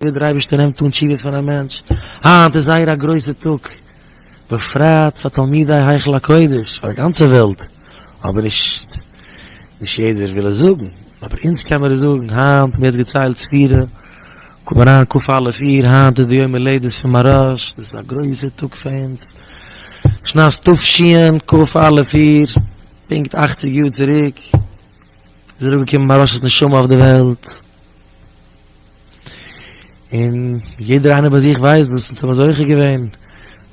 ווי דער אייבערשטער נעמט אן תשובה פון א מענטש, היינט איז זייער א גרויסע טאג, בפרט פאר תלמידי היכל הקודש, פאר די גאנצע וועלט, אבער נישט נישט יעדער וויל עס זאגן, אבער אונז קען מיר עס זאגן, היינט, מיר האט עס געציילט ספירה, קום אריין כ א אלף אייר, היינט איז די יום הולדת פון מהרש, דאס איז א גרויסע טאג פאר אונז, שנת תשנ ק, כ א אלף אייר, פונקט אכציג יאר צוריק, איז אראפגעקומען מהרש'ס נשמה אויף די וועלט. און יעדער איינער ביי זיך ווייסט וואס אונז האבן זוכה געווען,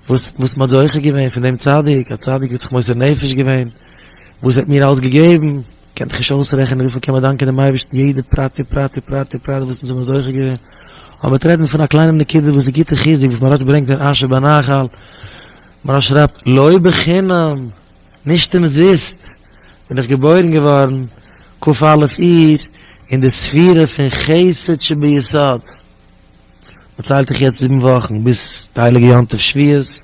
וואס וואס מען האט זוכה געווען פון דעם צדיק, א צדיק וואס האט זיך מוסר נפש געווען, וואס ער האט מיר אלס געגעבן, קענט איך נישט אויסרעכענען וויפיל קען מען דאנקען דעם אייבערשטן יעדע פרט ופרט ופרט ופרט וואס אונז האבן זוכה געווען, אבער מ'וועט רעדן פון א קליינעם נקודה וואס איז גוטע חיזוק וואס מהרש א ברענגט אין אשר בנחל, מהרש א שרייבט, לא בחינם, נישט אומזיסט, בין איך געבוירן געווארן כ א אייר אין די ספירה פון חסד שביסוד, מען ציילט דיך יעצט זיבן וואכן ביז די הייליגע יום טוב שביעות,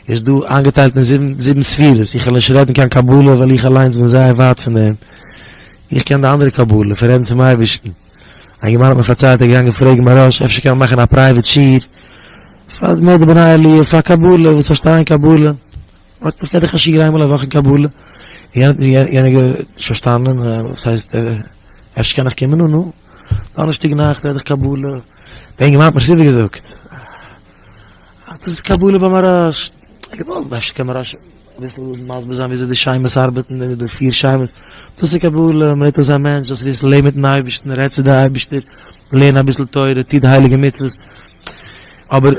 איז דא איינגעטיילט אין זיבן זיבן ספירות, איך וועל נישט רעדן קיין קבלה ווייל איך אליינס בין זייער ווייט פון דעם, איך קען די אנדערע קבלה פון רעדן צום אייבערשטן, א יונגערמאן האט מיר פארציילט ער איז געגאנגען פרעגן מהרא ש אפשר קען מען מאכן א פרייוועט שיעור פאר די בני עליה פאר קבלה וואס פארשטייען קבלה. האט מיך קענטיך א שיעור איינמאל א וואך אין קבלה, יענער האט מיר יענער נישט פארשטאנען, וואס הייסט אפשר קען איך קומען אן אן דאנערשטאג נאכט רעד איך קבלה, דער אינגערמאן האט מיר סופער געזאגט אז דאס איז קבלה ביי מהרש ל, געוואלט אפשר קען מהרש ל אביסל מסביר זיין וויאזוי די שמות ארבעטן און די פיר שמות, דאס איז קבלה, מ'רעדט אויס א מענטש זאלסט וויסן, לעב מיטן אייבערשטן, רעד צו די אייבערשטער, לערן אביסל תורה, טו די הייליגע מצוות, אבער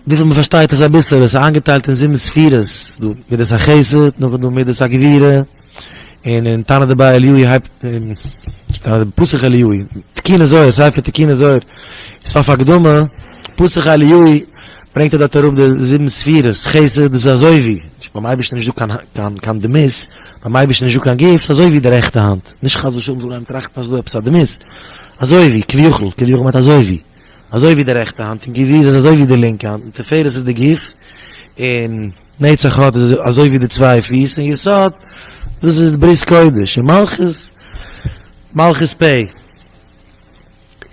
וויפיל מען פארשטייט איז אביסעלע, ס'איז איינגעטיילט אין זיבן ספירות, דא מידת החסד, נאך איז דא מידת הגבירה, און אין תנא דבי אליהו הייבט, אין תנא דבי פסח אליהו, תקיני זוהר, ספר תקיני זוהר, סוף הקדמה, פסח אליהו, ברענגט ער דארט אראפ די זיבן ספירות, חסד איז אזוי ווי, ביים אייבערשטן איז נישטא קיין קיין דמות, ביים אייבערשטן איז נישטא קיין גוף, ס'אזוי ווי די רעכטע האנט, נישט חס ושלום זאל איינער טראכטן אז ס'איז דא עפעס א דמות, אזוי ווי, כביכול, כביכול מיינט אזוי ווי. אזוי ווי די רעכטע האנט, און גביר איז אזוי ווי די לינקע האנט, און תפארת איז די גוף, און נצח הוד איז אזוי ווי די צוויי פיס, און יסוד, דאס איז ברית קודש, און מלכות, מלכות פ,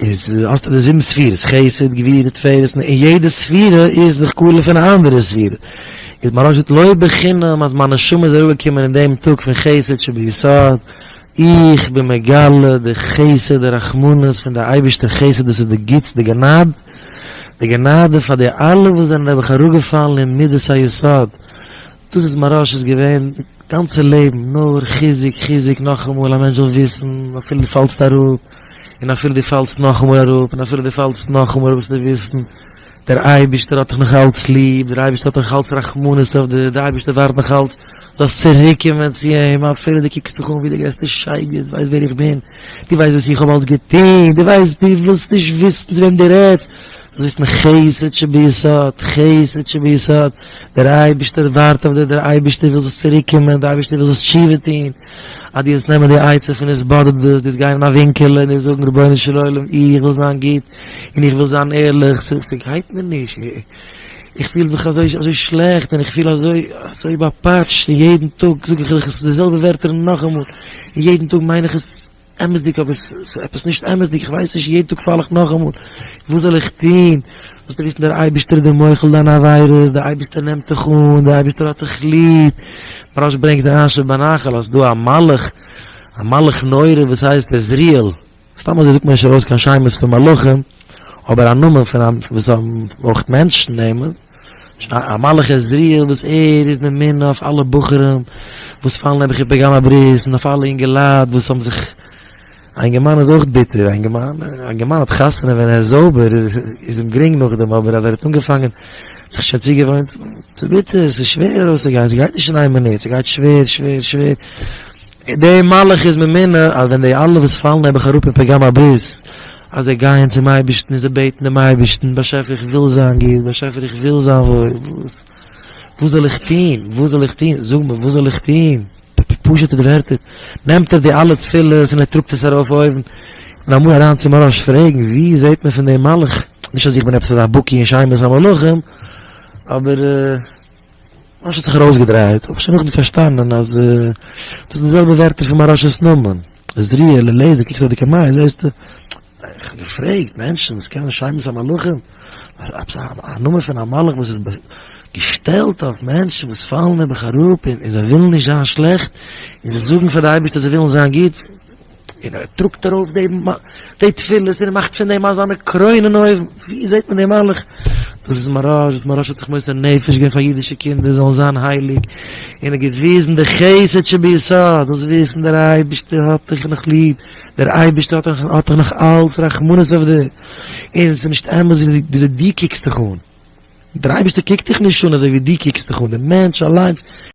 איז, האסטו די זיבן ספירות, חסד, גבורה, תפארת, און יעדע ספירה איז זיך קאלער פון א אנדערע ספירה, איז מרן שליט א, לא בחינם אז מיין נשמה איז אראפגעקומען אין דעם טאג פון חסד שביסוד, איך בין מגלה די חסד די רחמנות פון די אייבערשטער חסד דאס איז די גוטס די גענאד די גענאדע פאר די אלע וואס זענען נעבעך אראפגעפאלן אין מידת היסוד דאס איז מהרש איז געווען גאנצע לעבן נאר חיזוק חיזוק נאכאמאל א מענטש זאל וויסן אפילו די פאלסט אראפ און אפילו די פאלסט נאכאמאל אראפ און אפילו די פאלסט נאכאמאל אראפ זאלסטו וויסן דער אייבערשטער האט דיך נאך אלץ ליב, דער אייבערשטער האט נאך אלץ רחמנות אויף דיר, דער אייבערשטער ווארט נאך אלץ זאלסט צוריק קומען צו אים, אפילו דו קוקסט דיך אן ווי דער גרעסטער שייגעץ, דו ווייסט ווער איך בין, דו ווייסט וואס איך האב אלץ געטון, דו ווייסט, דו ווילסט נישט וויסן צו וועם דו רעדסט, זאלסט וויסן חסד שביסוד, חסד שביסוד, דער אייבערשטער ווארט אויף דיר, דער אייבערשטער וויל זאלסט צוריק קומען, דער אייבערשטער וויל זאלסט תשובה טון, אז דו וועסט נעמען די עצה פון נישט באדערט דאס, דו וועסט גיין אין א ווינקעלע און דו וועסט זאגן רבונו של עולם איך וויל זיין גוט און איך וויל זיין ערליך, ס'גייט מיר נישט, איך פיל מיך אזוי שלעכט און איך פיל אזוי באפאטשט און יעדן טאג זאג איך די זעלבע ווערטער נאכאמאל און יעדן טאג מיין איך עס. אמת'דיג אבער ס'איז עפעס נישט אמת'דיג איך ווייס נישט יעדן טאג פאל איך נאכאמאל וואס זאל איך טון זאלסטו וויסן דער אייבערשטער איז דער מוחל דיינע עבירות דער אייבערשטער נעמט דיך אן דער אייבערשטער האט דיך ליב מהראש ברענגט אריין שבנחל אז ס'דא א מלאך א מלאך נורא וואס הייסט עזריאל סתם אזוי זאגט מען נישט ארויס קיין שמות פון מלאכים אבער א נאמען פון א וואס האבן אויך מענטשן נעמען. א מלאך עזריאל וואס ער איז ממונה אויף אלע בחורים וואס פאלן נעבעך איבער גמ' הברית און אויף אלע אינגעלייט וואס האבן זיך א אינגערמאן איז אויך ביטער א אינגערמאן א אינגערמאן האט חתונה ווען ער איז זויבער איז אים גרינג נאכדעם אבער אז ער האט אנגעפאנגען זיך שוין צוגעוואוינט ס'איז ביטער ס'איז שווער ארויסצוגיין ס'גייט נישט אין איין מינוט ס'גייט שווער שווער שווער די מהלך איז ממילא אז ווען די אלע וואס פאלן נעבעך אראפ אין פגם הביז אז זיי גייען צום אייבערשטן און זיי בעטן דעם אייבערשטן, באשעפער איך וויל זיין גוט, באשעפער איך וויל זיין וואויל, וואס וואס זאל איך טון, וואס זאל איך טון, זאג מיר וואס זאל איך טון, פשוט'ע ווערטער, נעמט ער די אלע תפילות און ער טראגט עס ארויף אויבן, און אמאל אריין צום ארוש פרעגן, ווי זעט מען פון דעם מהלך, נישט אז איך בין עפעס אזא בקי אין שמות המלכים, אבער. משה האט זיך ארויסגעדרייט, אבער שוין נאכדעם פארשטאנען אז דאס זענען די זעלבע ווערטער פון מהרשא'ס נאמען. עזריאל, אליעזר, קוקסט אויף די קאמיי, זעסטו? ניין, איך האב געפרעגט מענטשן וואס קענען שמות המלכים, עפעס א נאמען פון א מלאך וואס איז געשטעלט אויף מענטשן וואס פאלן נעבעך אראפ און זיי ווילן נישט זיין שלעכט און זיי זאגן פאר די אייבערשטער זיי ווילן זיין גוט, און ער טראגט ארויף די תפילות און ער מאכט פון דעם אזאנע קרוין אין אויבן, ווי זעט מען די מהלך? דאס איז מוהרא ש וואס מוהרא ש האט זיך מוסר נפש געווען פאר אידישע קינדער זאלן זיין הייליג, און ער האט געוויזן די חסד שביסוד, זאלסט וויסן דער אייבערשטער האט דיך נאך ליב, דער אייבערשטער האט נאך אלץ רחמנות אויף דיר, און עס איז נישט אמת וויאזוי דו קוקסט דיך אן, דער אייבערשטער קוקט דיך נישט אן אזוי ווי דו קוקסט דיך אן, דער מענטש אליינס.